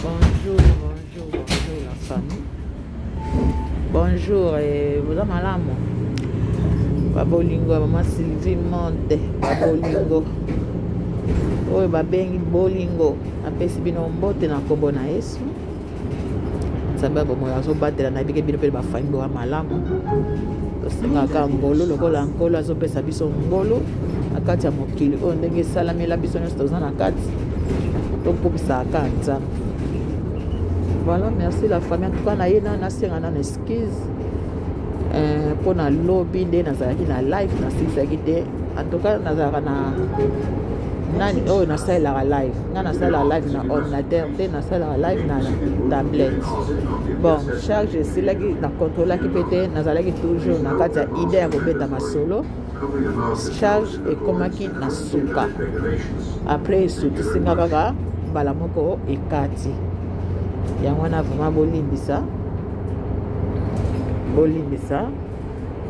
Bonjour, bonjour, bonjour la famille. Bonjour, et vous avez mal à moi. Babolingo, maman Sylvie Monde, Babolingo. oyo babengi bolingo apesi bino mbote na nkombo na yesu nzambe ya bomoi azobatela na bike bino mpe bafambo ya malamu tosengaka ngolu lokola nkolo azopesa biso ngolu na kati ya mokili oyo ndenge esalamela biso nyonso toza na kati tokumisaka nzambe voilà merci la famille antuka na ye na nasenga nano excuse eh, mpo na lobi nde nazalaki na live nasilisaki te antuka nazalaka na nani oyo nasalelaka live nga nasala live na ordinateur te nasalaka live na tablette bon charge esilaki na controlaki mpe te nazalaki toujours na kati ya idée ya kobeta masolo charge ekomaki na suka après esukisi nga kaka mbala moko ekati yango wana vraimen bolimbisa bolimbisa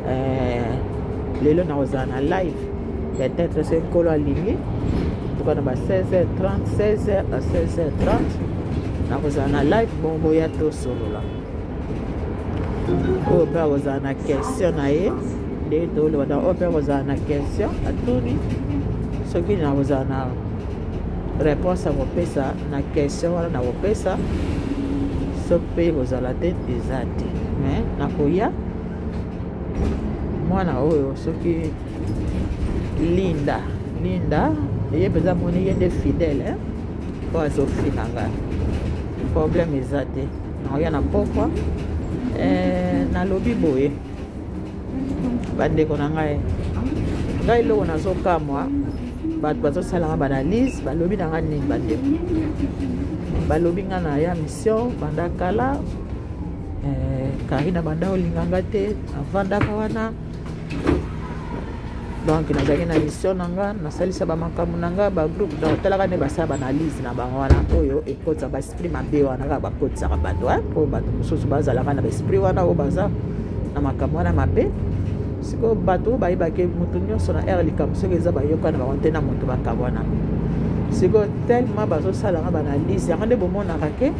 eh, lelo nakozala na live peut-être se nkolo alingi toka na ba 16h30 16h à 16h30 nakozala na live bongo ya tosolola oyo mpe akozala na question na ye nde toloba na oyo mpe akozala na question atuni soki nakozala na réponse akopesa na question wana nakopesa soki mpe ekozala te eza te me nakoya mwana oyo soki linda linda ye mpenza moni ye nde fidèle mpo azofina nga problème eza te nakoya na pokwa eh, nalobi boye bandeko na ngai ngai eloko nazokamwa bato bazosalaka baanalyse balobi na ngai nini bandeko balobi ngai na ya mission banda kala eh, karina banda olinga ngai te avandaka wana donc nazalaki na mission na nga nasalisa bamakambo na nga bagroupe donc talaka nde basala baanalyse na bango wana oyo ekotisa baesprit mabe wana kaka bakotisaka bato mpo bato mosusu bazalaka na baesprit wana oyo baza na makambo wana mabe sikoyo bato oyo bayebaki moto nyonso na aire likambo soki eza bayokana bango te na moto bakabwana sikoyo tellement bazosalaka baanalyse yango nde bomonaka ke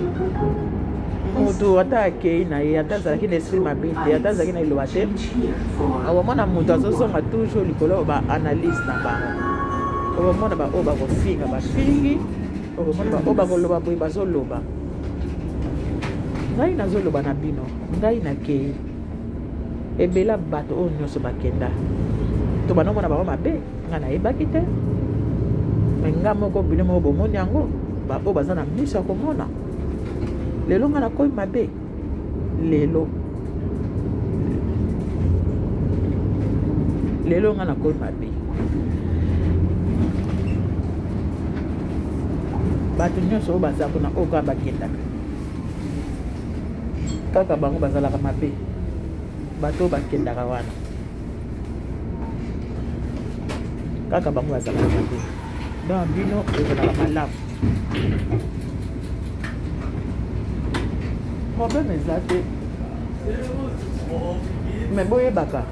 moto ata akei na ye ata azalaki na esprit mabe te ata azalaki na liloba te okomona moto azozonga toujours likolo ba analyse na bango okomona baoyo bakofinga bafingi okomona baoyo bakoloba boye bazoloba ngai nazoloba na bino ngai nakei ebela bato oyo nyonso bakenda to bandomona bango mabe ngai nayebaki te me ngai moko bino moko bomoni yango baoyo baza na miso ya komona lelo ngai nakomi mabe lelo lelo nga nakomi mabe bato nyonso oyo baza kuna oyo kaka bakendaka kaka bango bazalaka mabe bato oyo bakendaka wana kaka bango bazalaka mabe donc bino ezalaka malamu problème eza te mais boyebaka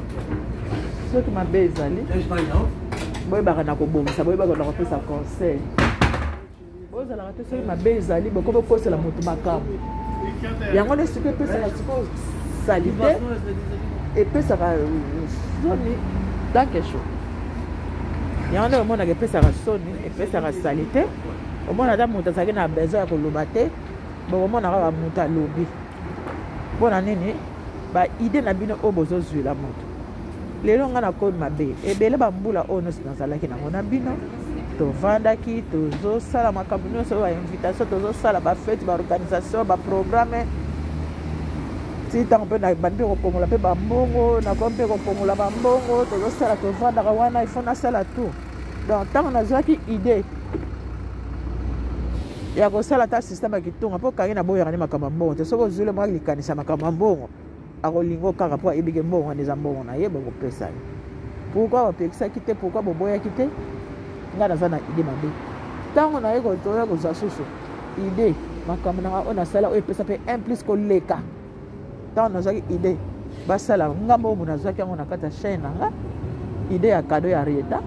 soki mabe ezali boyebaka na kobongisa boyebaka na kopesa conseil bozalaka te soki mabe ezali bokoki bokosela moto makambo yango nde sikoyo epesaka sikoyo salite epesaka soni tanke sho yango nde omonaka epesaka soni epesaka salite omona ata moto azalaki na besoin ya koloba te bokomona kaka moto alobi mpo na nini baide na bino oyo bozozwila moto lelo ngai nakomi mabe ebele bambula oyo nyonso nazalaki nango na bino tovandaki tozosala makambo nyonso bainvitation tozosala bafete baorganisation baprogramme ti ntango mpe nabandi mpe kopongola mpe bambongo nakomi mpe kopongola bambongo tozosala tovandaka wana ifo nasala tour donc ntango nazwaki idee ya kosala ata systeme ya kitunga mpo kangi naboyaka nde makambo ya mbongo te soki ozwile mwaki likanisa makambo ya mbongo akolingo kaka mpo ayebike mbongo wana eza mbongo na ye bokopesa ye pourkui bapekisaki te pourkui boboyaki te ngai naza na ide mabe ntango naye kotoya kozwa susu ide makambo nanga oyo nasala oyo epesa mpe un plus koleka ntango nazwaki idee basala nga moko nazwaki yango na kati ya chaine na nga idee ya kado ya rieta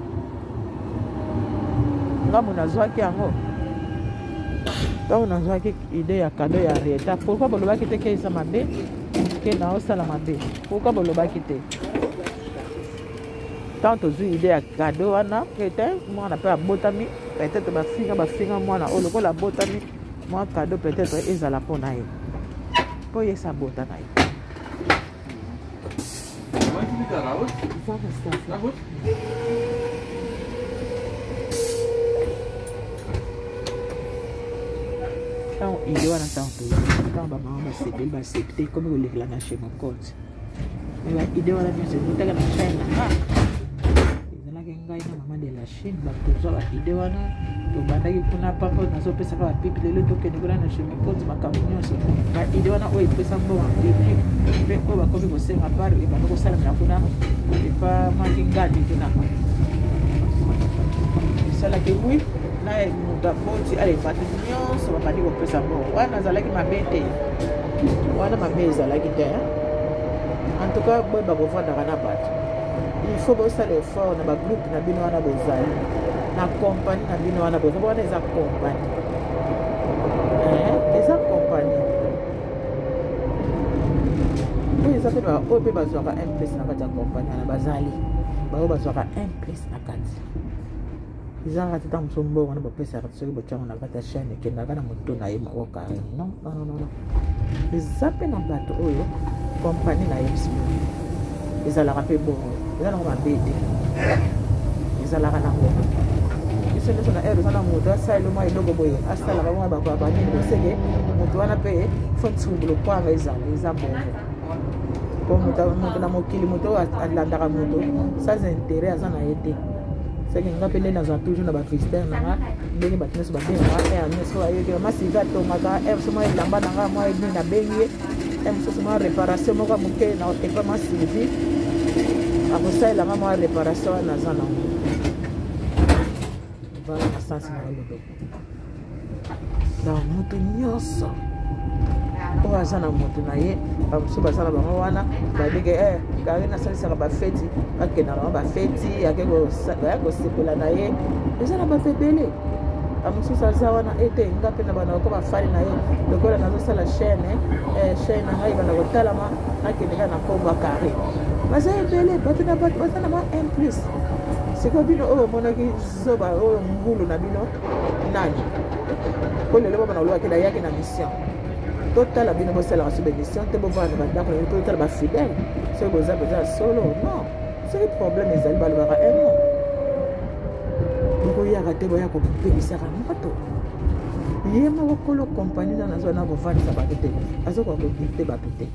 nga mo nazwaki yango ntango nazwaki idee ya kado ya rieta pourkui bolobaki te keisa mabe ke naosala mabe pourkui bolobaki te ntango tozwi idee ya kado wana rieta mwana mpe abotami peut-être bafinga bafinga mwana oyo lokola abotami mwa cadeau peut-être ezala mpo na ye mpo ye sabota na ye ntango ide wana ntango toya ntango bamama basepeli basepte ekomi kolekela na chez mokonzi mais baide wana nyonso ekotaka na china ah! Chine bato tozwa baide wana tobandaki kuna papa oyo nazopesaka bapipi lelo tokende kuna na chemin konzi makambo nyonso baide wana oyo epesa mbongo bibi mpe oyo bakomi kosenga par ebanda kosalamela kuna epa maki ngadi kuna esalaki wi na moto aboti ale bato nyonso babandi kopesa mbongo wana azalaki mabe te wana mabe ezalaki te en tout cas boye bakofandaka na bato il faut bosala effort na bagroupe na bino wana bozali na kompani na bino wana bozali wana eza kompani eh, eza kompani oyo eza mpe oyo mpe bazwaka un place na kati ya kompani wana bazali baoyo bazwaka un place na kati ezanga tata mosu mbongo wana bapesaka soki bocango na kati ya chaine ekendaka na moto na ye moko kare non nonnn eza mpe na bato oyo kompani na ye bisi ezalaka mpe bongo eza nango mabe te ezalaka nango biso nyonso na ere eza na moto asaleli mwa eloko boye asalaka bongo bakoabanini boseke moto wana mpe fo nsumbulu kwanga ezala eza bongo mpo moto na mokili moto oyo alandaka moto sans intérêt aza na ye te seke nga mpe nde nazala toujours na bacristere na nga ndenge bato nyonso babengaka r nyonso ayokela masiza atongaka r so mwa elamba na nga mwa edini nabengi ye r mosusu mwa réparation moko moke na epa mwa sylvie akosalelanga mwa réparation wana aza nango vala na sansi na yo lodoka na moto nyonso oyo aza na moto na ye bamosusu baza na bango wana babike e eh, kari nasalisaka bafeti bakenda bango bafeti ake kosepela na ye eza na bato ebele bamosusu aza wana ete nga mpe na bana bako bafali na ye lokola nazosala chaine eh, chaine na ngai banda kotalama nakende kaka na nkombo ya kari baza ebele bato na bato baza na ba un plus sikoyo bino oyo omonaki zoba oyo ngulu na bino nani mpo lelo bamana olobaki nayaki na mission totala bino bosalaka so bamission te bovanda na bandako na bino mpo totala bafidele soki boza mpenza ya solo non soki problème ezali balobaka emo bokoyaka te boya kopekisaka moto ye moko kolo kompani na nazwa na kovandisa bato te azokoka kodikte bato te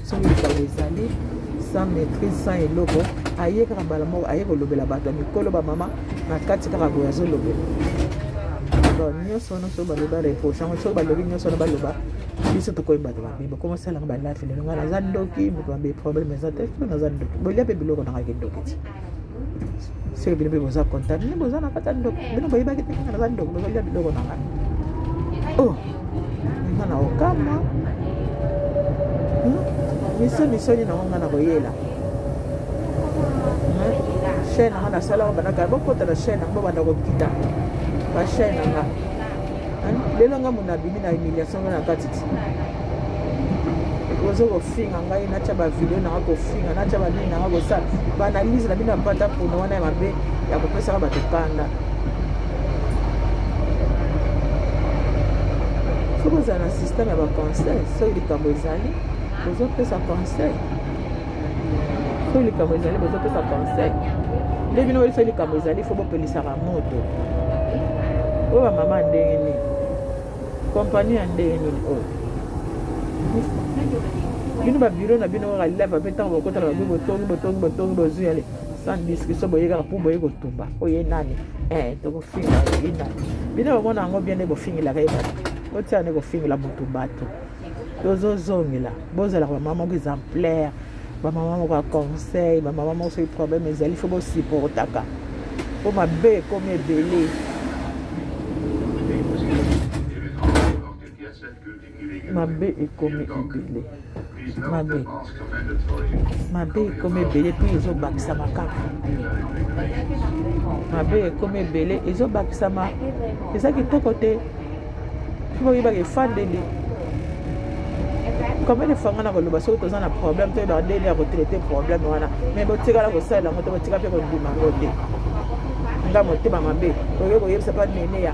soki likambo ezali sans maîtrise sans eloko aye kaka mbala moko aye kolobela bato ya mikolo bamama na kati kaka boye azolobela bon nyonso wana soki baloba reproche yango soki balobi nyonso wana baloba biso tokomi bato mabe bokomosalaka balafi lelo ngai naza ndoki moto mabe problème eza te soki naza ndoki bolia mpe biloko nanga kindoki ti seke bino mpe boza contact bino boza na kati ya ndoko bino boyebaki te kaka naza ndoko bozolia biloko na ngai o oh, nga na okamwa hmm? misonisoni nango nga na koyela hmm? chaine nanga nasalaka bandaka bokota na chaine yango banda kokita bachaine nanga hmm? lelo nga mona abimi na humiliation nga na kati ti ozo kofinga ngai natya bavideo nanga kofinga natya banini nanga kosala baanalyse na bino ya pata pona wana ya mabe ya kopesaka bato kanda soki ozala na systeme ya baconseil soki likambo ezali ozopesa conseil soki likambo ezali bozopesa conseil nde bino oyebi soki likambo ezali fo bopelisaka moto oyo bamama ndenge nini Compagnie ya ndenge nini oyo? Bino ba bureau na bino kaka lève pe ntango bokota na babi botongi botongi botongi bozwi yale sans discussion boye kaka mpo boye kotumba oye nani eh, tokofinga ye nani bino bamona yango bien nde bofingelaka ye bato botia nde kofingela motu bato tozozongela bozalaka bamama moko exemplaire bamama moko ya conseil bamama moko soki problème ezali fo bosupportaka mpo mabe ekomi ebele mabe ekomi ebele mabe mabe ekomi ebele mpe ezobakisama kaka mabe ekomi ebele ezobakisama eza kitoko te mpo oyebaka efandeli combien de fois nga na koloba soki toza na problème toyebaka ndenge ya kotraite problème wana mais botikala kosalela yango te botika mpe kondima yango te nga motema mabe oyo koyebisa mpa neneya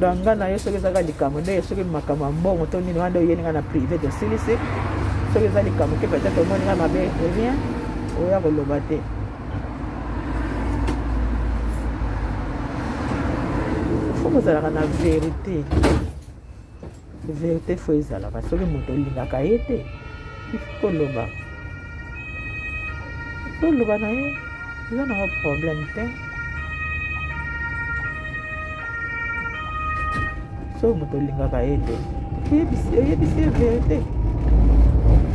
donc nga na yo soki ezaka likambo ndenge soki makambo ya mbongo to nini wana nde oyeli nga na privé tosilisi soki eza likambo te peut-être omoni nga mabe rien oya koloba te fo kozalaka na verité verite fo ezalaka soki moto olingaka ye te ifo koloba toloba na ye eza nango problème te soki moto olingaka ye te eyebisi ye verite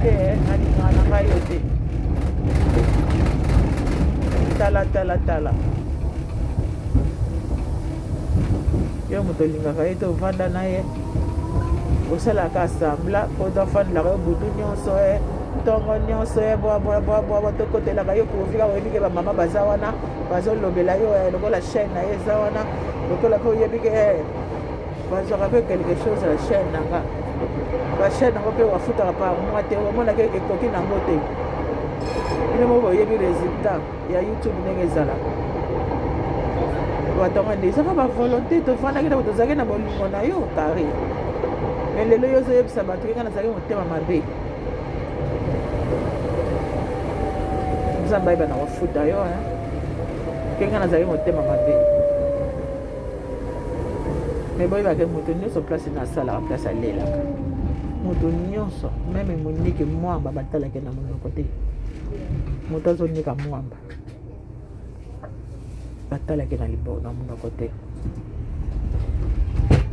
te nalingaka na ngai yo te talatala tala, tala. yo moto olingaka ye te ovanda na ye osalaka asambla mpo oza ofandilaka yo butu nyonso e eh. ntongo nyonso e eh, bwabwabwabwa tokotelaka yo kovika oyebi ke bamama baza wana bazolobela yo eh, lokola chaine na ye eza wana lokola mpe oyebi ke bazwaka mpe quelque chose na chaine na nga bachaine yango mpe wafutaka par mois te omonaki ekoki nango te bino moko boyebi résultat ya youtube ndenge ezalaka bato yango nde ezaka bavolonté tofandaki na tozalaki na bolingo na yo kare me lelo yo ozoyebisa bato keka nazalaki motema mabe nzambe ayeba na kofuta yo keka nazalaki motema mabe me boyebake moto nyonso place nasalaka place alelaka moto nyonso meme monike mwamba batalaki na monoko te moto azonika mwamba batalaki na libo na monoko te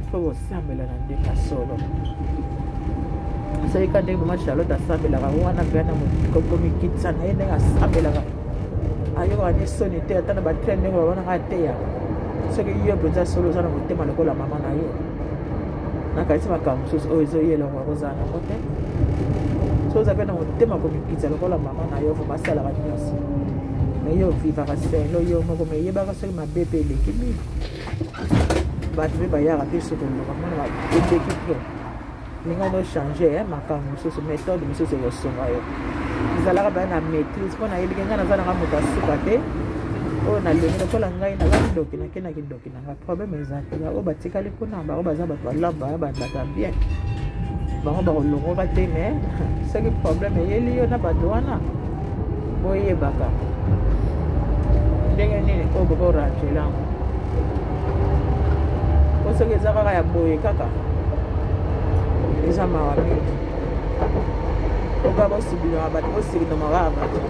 mpo kosambela na nde na solo asalika ndenge mama charlotte asambelaka wana mpe ana komikitisa na ye ndenge asambelaka ayokaka nde soni te ata na batrain ndenge babanaka ateyaka soki yo mpenza solo oza na motema lokola mama na yo nakanisi makambo mosusu oyo ezoya eloko yakozala nango te so oza mpe na motema komikitisa lokola mama na yo vraimen asalaka nyonso me yo ovivaka selo yo moko me eyebaka soki mabe mpe eleki mingi bato mpe bayaka mpe soki oloba mona eleki mpe ndenge no change eh, makambo mosusu méthode mosusu ekosunga yo ezalaka baya na maîtrise mpo nayebike ngai naza nanga moto asuka te oyo nalingi lokola ngai naza kindoki nakenda kindoki ba problème eza te baoyo batikali kuna bango baza bato balaba babata bien bango bakolongoka te me soki problème eyeli yo na bato wana boyebaka ndenge nini oyo bokorangela yango po soki eza kaka ya boye kaka eza mawa mingi oka bosibilaka bato bosilinamaka ya bato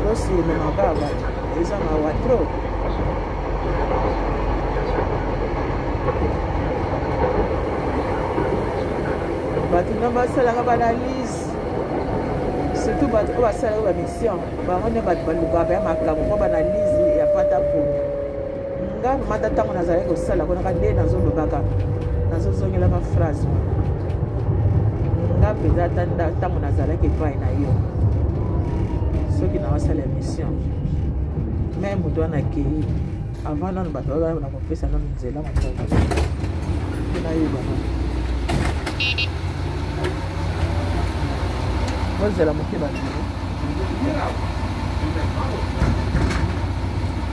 bosilinamaka ya bato Eza mawa trop. bato na basalaka baanalyse surtout bato oyo basalaka bamission bango nde bato balukaka ya makambo mpo baanalyse ya pata pona nga mata ntango nazalaki kosala kuna kade nazolobaka nazozongelaka phrase nga mpenza ata ntango nazalaki epai na yo soki nawasala emission me moto wana akei avant nano bato baa na kopesa nano nzela moto nayebana bozela moke bato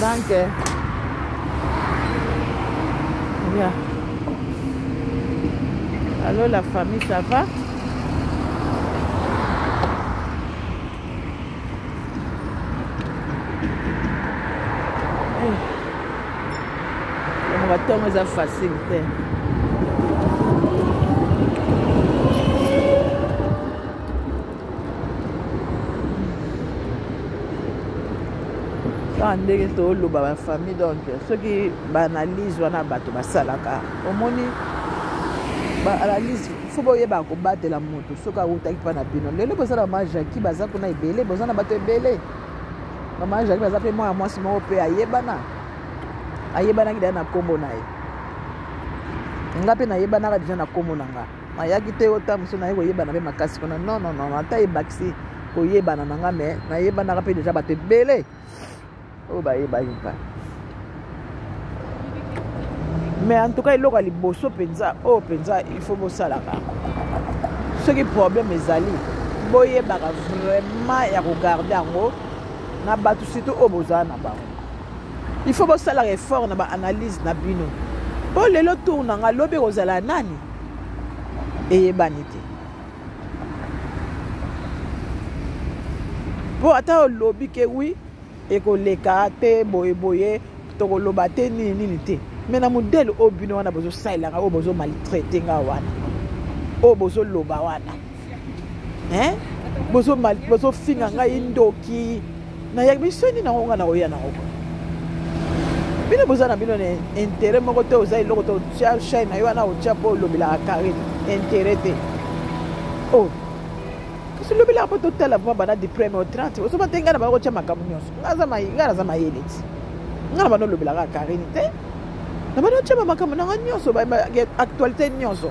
Danke. Yeah. Allô la famille, ça va yango batongo eza facile te kaka ndenge toloba bafamille donc soki baanalyse wana bato basalaka omoni baanalyse fo boyeba kobatela moto soki awutaki mpa na bino lelo boza na mama jaki baza kuna ebele boza na bato ebele mama jaki baza mpe mwana mwasi moko mpe ayebana ayebanaki deja na nkombo na ye nga mpe nayebanaka deja na nkombo na nga ayaki te ota mosusu naye koyebana mpe makasi kuna non non non ata ebakisi koyebana na nga me nayebanaka mpe deja bato ebele oyo bayebaki mpa mais en tout cas eloko ya liboso mpenza oyo oh, mpenza il faut bosalaka soki problème ezali boyebaka vraiment ya kogarde yango na bato surtout oyo bozala na bango il faut bosalaka effort na baanalyse na bino mpo lelo tour na ngai lobi ekozala nani eyebani te mpo ata olobi ke wi ekoleka te boyeboye tokoloba te nini nini te me na modele oyo bino wana bozosalelaka oyo bozomaltraite nga wana oyo bozoloba wana hein bozo mal bozo finga ngai ndoki na ya biso ni na ngonga na oya na ngonga bino boza na bino na intérêt moko te oza eloko te otya chaine na yo wana otya mpo olobelaka carine intérêt te o oh. kasi olobelaka mpo totala vraimen bana du premier au 30 osoba te ngai na bana kotya makambo nyonso ngai naza mayele ti ngai na bana olobelaka carine te na bana otya bamakambo nanga nyonso actualité nyonso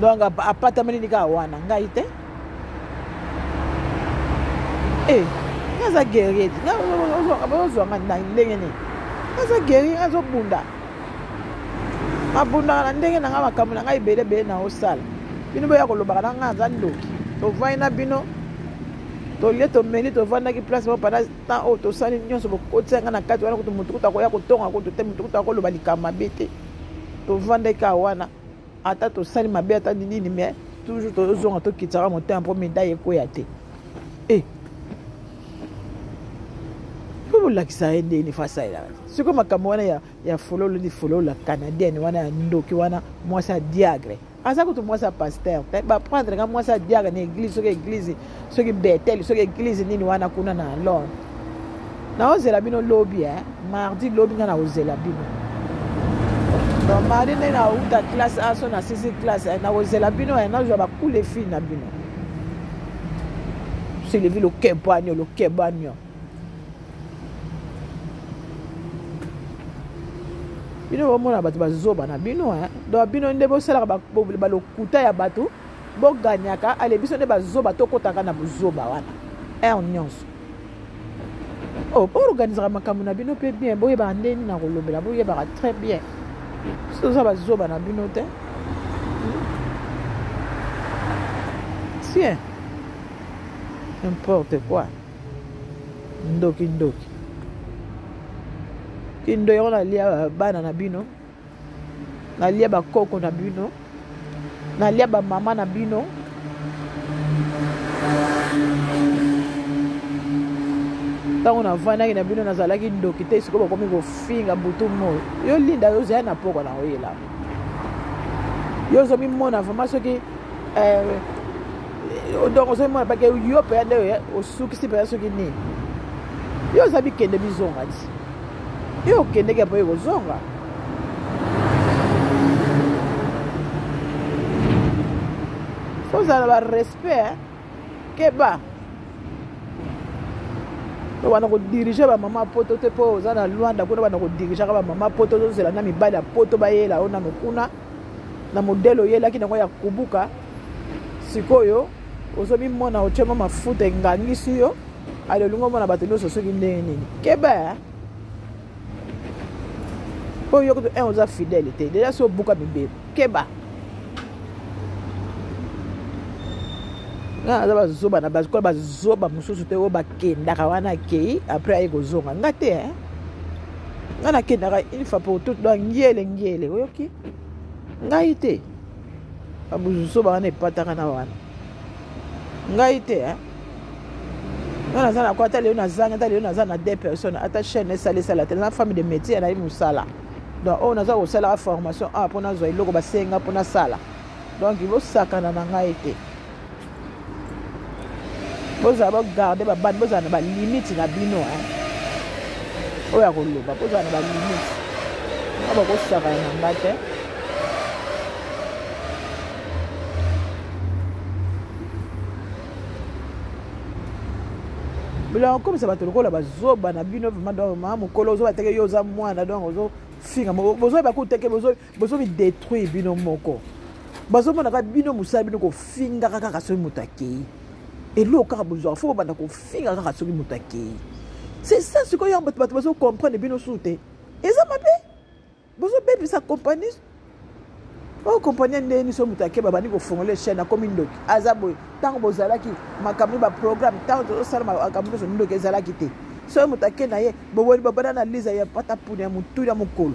donc apatameli nika wana ngai te eh, aza guerrier ti ozwa nga na ndenge nini aza guerrier azobunda abundaka na ndenge na ngai makambo na ngai ebele ebele na osala bino boya kolobaka na ngai aza ndoki tovandi na bino tolie tomeli tovandaki place moko panda temps oyo tosali nyonso bokotisa ngai na kati wana kutu motu kutu akoya kotonga kutu te motu kutu akoloba likambo mabe te tovandaki awa wana ata tosali mabe ata nini mais toujours tozonga tokitisaka motema mpo medaille ekweya te e mpo bolakisa ye ndeni fo asalelaka te sikoyo makambo wana ya, ya fololo ni folola canadienne wana ya ndoki wana mwasi ya diagre aza kutu mwasi ya paster te baprendre ka mwasi ya diagre na eglise soki eglise soki betele soki eglize nini wana kuna na lor naozela bino lobi eh? mardi lobi nga nakozela bino donc mardi nde nauta classe aso na sisi classe eh? nakozela bino eh? nazwa bakule fille na bino selevi lokebanio lokebanio bino bomona bato bazoba na bino eh? donc bino nde bosalaka balokuta ya bato Bo gagnaka ale biso nde ba zoba to kotaka na buzoba wana. Heure nyonso. Oh, bo organisaka makambo na bino pe bien, bo yebaka ndenge na kolobela, bo yebaka très bien. Biso toza ba zoba na bino te. Tiens. N'importe quoi. Ndoki ndoki. Kindo yona lia bana na bino. nalia bakoko na bino nalia bamama na bino ntango navandaki na bino nazalaki ndoki te sikoyo bakomi kofinga butu moi yo linda yo ozali na mpoko na oyela yo ozomimona vraimen soki eh, donc ozomimona bake yo mpenza nde osukisi mpenza soki nini yo oza bikende bizonga ti Yo okendeki apo ekozonga. Faut ozala ba respect keba. wana kodirige bamama poto te mpo oza na lwanda kuna bana kodirigaka bamama poto tozela na mibali ya poto bayela yo nano kuna na modele oyelaki nango ya kubuka sikoyo ozo mimona otye mwa mafuta engangisi yo ale olingi omona bato nyonso soki ndenge nini keba mpo yo kutu un eh, oza fidèle te deja so obuka mibeko keba nga naza bazoba na bakola bazoba mosusu te oyo bakendaka wana akei après aye kozonga nga te eh? nga nakendaka une fois pour toute donc ngele ngele oyoki ngai te babuzuso bawana epataka na wana ngai te eh? nga naza na kwa ata lelo nazanga ata lelo naza na deux personnes ata chaîne esala esala te na femme de métier nayebi mosala donc oyo naza kosalaka formation awa mpo nazwa eloko basenga mpo nasala donc bosakana na ngai te bozala bogarde babandi bozala na balimite na bino oyo ya koloba bozala na balimite a bakosaka ya nanga te biloko okomisa bato lokola bazoba na bino vraimen donc ma mokolo ozoba teke yo oza mwana donc ozofinga bozoyeba kuteke bozo mi detruire bino moko bazomona kaka bino mosala bino kofingaka kaka soki moto akei eloko kaka bozwaka fo bobanda kofinga kaka soki moto akei c'est ça sikoyo yango bato bazo comprendre bino suu te eza mabe bozobebisa compagnie oyo kompani ya ndenge niso moto ake babandi kofongola chaine akomi ndoki aza boye ntango bozalaki makambo baprogramme ntango tozosala makambo nyonso ndoki ezalaki te soki moto ake na ye boboni babana na liza ya patapuni ya motuli ya mokolo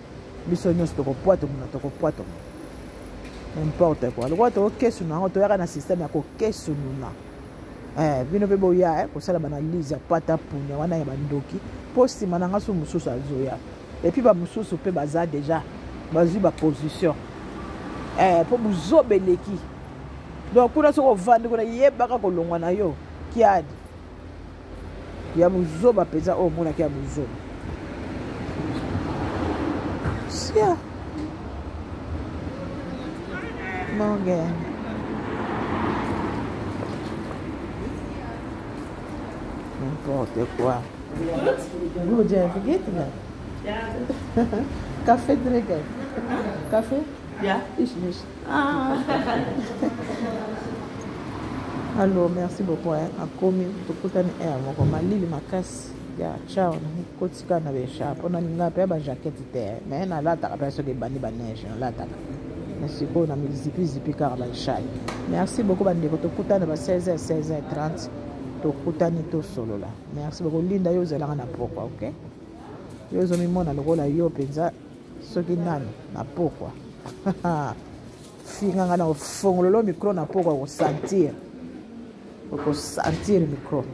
biso nyonso tokopwatoma tokopwatoma n'importe quoi lokola tokokesununa yango toyaka na systeme ya kokesununa eh, bino mpe boya eh, kosala banalise ya pata punya wana ya bandoki mpo nsima na ngai so mosusu azoya epuis bamosusu mpe baza deja bazwi baposition eh, mpo buzoba eleki donc kuna soki ovandi kuna yebaka kolongwa na yo kiadi ya buzoba mpenza oyo omonaki ya buzoba sia morgan n'importe quoi vous j'ai invité là café drinker café yeah ich nicht Ah. Allô, merci beaucoup. Hein. Akomi, tokutani air moko malili makasi ya chao kotika na besha mpona ninga mpe ba jaquette te mais nalataka mpe soki ebandi baneige nalataka na sikoyo na mizipizipi kaka bashai merci beaucoup bandeko tokutana ba 16 16 30 tokutani tosolola merci beaucoup linda yo ozalaka na pokwa ok yo ozomimona lokola yo mpenza soki nani na pokwa finga nga na ofongololo micro na pokwa okosentir okosentir micro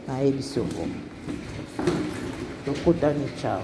nayebisi obongo tokutani cao